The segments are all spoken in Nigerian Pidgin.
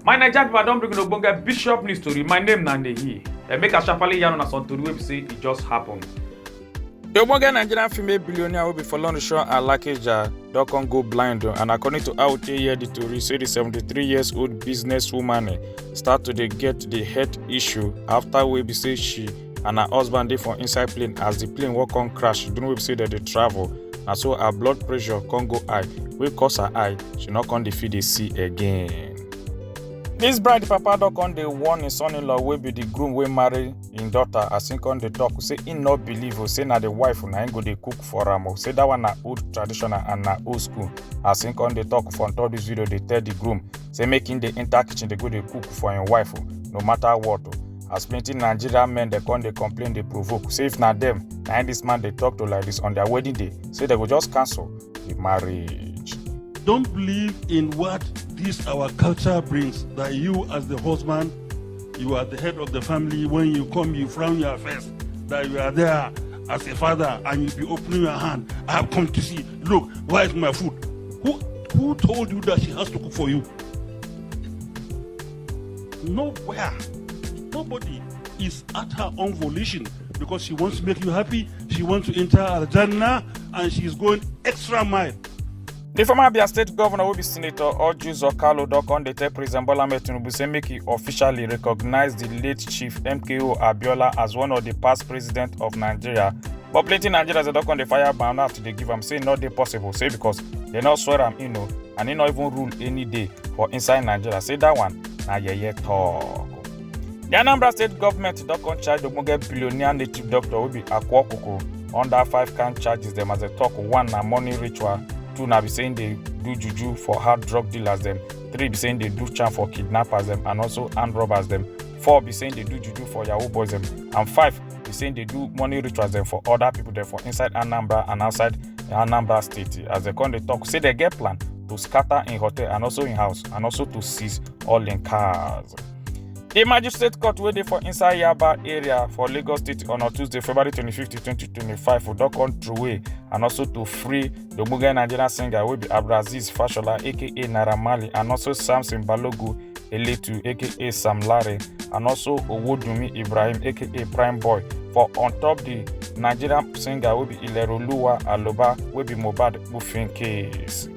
my naija pipo i don bring una ogbonge bishop news tori my name na nehi and make i sharparly yarn una some tori wey be say e just happen. di ogbonge nigerian female billionaire wey be folorunsho alakeja don come go blind and according to how we take hear di tori say di 73 years old businesswoman start to dey get di health issue afta wey be say she and her husband dey for inside plane as di plane wan come crash during wey be say dem dey travel na so her blood pressure come go high wey cause her eye she no come dey fit dey see again. dis bride papa don come dey warn im son-in-law wey be di groom wey marry im daughter as im come dey talk say im no believe o say na di wife na im go dey cook for am o say dat one na old traditional and na old school as im come dey talk for top dis video dey tell di groom say make im dey enter kitchen dey go dey cook for im wife o no matter what o as plenty nigerian men dey come dey complain dey provoke say if na dem na im dis man dey talk to like dis on their wedding day say dem go just cancel the marriage. Don't believe in what this our culture brings. That you, as the husband, you are the head of the family. When you come, you frown your face. That you are there as a father, and you be opening your hand. I have come to see. Look, where is my food? Who who told you that she has to cook for you? Nowhere. Nobody is at her own volition because she wants to make you happy, she wants to enter Al Jannah, and she is going extra mile. di former abia state govnor wey be senator orji zokalo don come dey tell president bola ahmed tinubu say make e officially recognise di late chief mko abiola as one of di past president of nigeria but plenty nigerians dey don come dey fire banana to dey give am say e no dey possible say because dem no swear am in o and he no even rule any day for inside nigeria say that one na yeye talk. di anambra state government don come charge ogbonge billionaire native doctor wey be akwa okoko under five kind charges dem as dem talk one na money ritual two na be say im dey do juju for hard drug dealers dem three be say im dey do charm for kidnappers dem and also armed robbers dem four be say im dey do juju for yahoo boys dem and five He's saying they do money rituals there for other people there for inside Anambra and outside Anambra State. As they come, they talk, say they get plan to scatter in hotel and also in house and also to seize all in cars. The magistrate court wey dey for inside Yaba area for Lagos State on Tuesday, February 25, 2025 for don come throway and also to free The ogbonge Nigerian singer wey be Abdulaziz Fashola aka Naira Marley and also Samson Balogu Eletu aka Sam Larry and also Owodunmi Ibrahim aka Prime Boy for on top the Nigerian singer wey be Ileroluwa Aloba wey be Mohbad Kpufin case.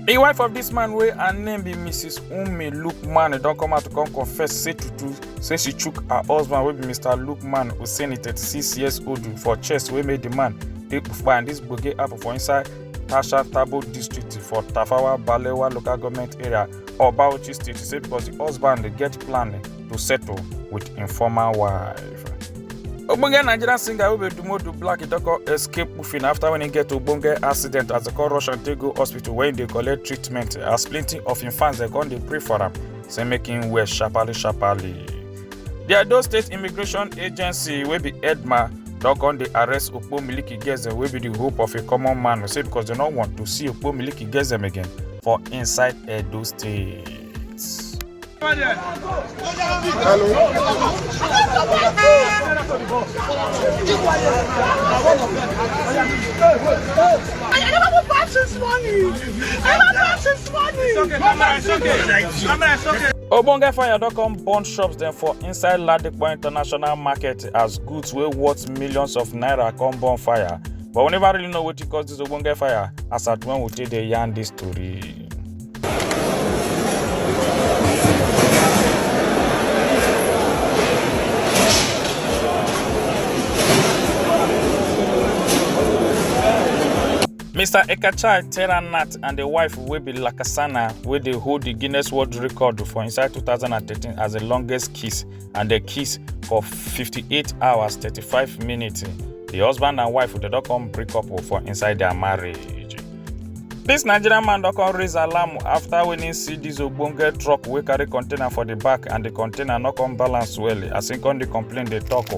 The wife of this man wey her name be Mrs. Umi Lukman don come out to come confess say tutu say she chook her husband wey be Mr. Lukman Hussaini 36 years old for chest wey make the man People find this gbege happen for inside Tasha Tabo district for Tafawa Balewa local government area of Bauchi state. She say because the husband dey get plan to settle with im former wife. Ogbonge Nigerian singer wey be Dumodu Black e don come escape Ufin after when he get ogbonge accident as dem come rush am take go hospital where he dey collect treatment as plenty of im fans dem come dey pray for am say make im well sharparly sharparly. di edo state immigration agency wey be edma don come dey arrest okpo miliki gezem wey be di hope of a common man say because dem no want to see okpo miliki gezem again for inside edo state. I never go back since morning. I never go back since ogbonge fire don come burn shops dem for inside ladipo international market as goods wey worth millions of naira come burn fire but we never really know wetin cause dis ogbonge fire as at when we take dey yarn dis tori. Mr. Ekachai Teranat and the wife wey be Lakasana wey dey hold the Guinness World Record for inside 2013 as the longest kiss and the kiss for 58 hours 35 minutes. The husband and wife dey don come break up for inside their marriage. This Nigerian man don come raise alarm after when he see this ogbonge truck wey carry container for the back and the container no come balance well as he come dey complain dey talk o.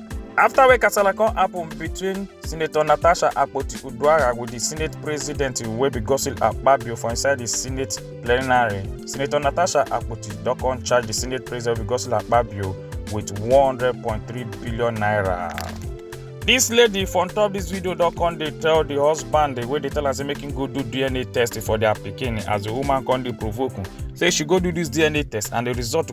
afta wey kasala come happun between senator natasha akpoti-uduaghan wit di senate president wey be godswill akpabio for inside di senate plenary senator natasha akpoti don come charge di senate president wey be godswill akpabio wit n100.3 billion naira. dis lady for top dis video don come dey tell di husband wey dey tell am say make him go do dna test for dia pikin as di woman come dey provoke am say she go do dis dna test and di result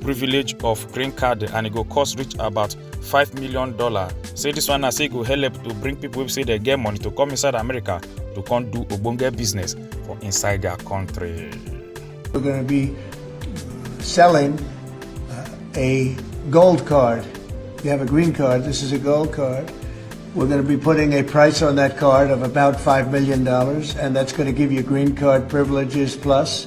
privilege of green card and e go cost reach about five million dollar say this one na say e go help to bring people wey say dem get money to come inside america to come do ogbonge business for inside their country. we're going to be selling uh, a gold card you have a green card this is a gold card we're going to be putting a price on that card of about $5 million, and that's going to give you green card privileges plus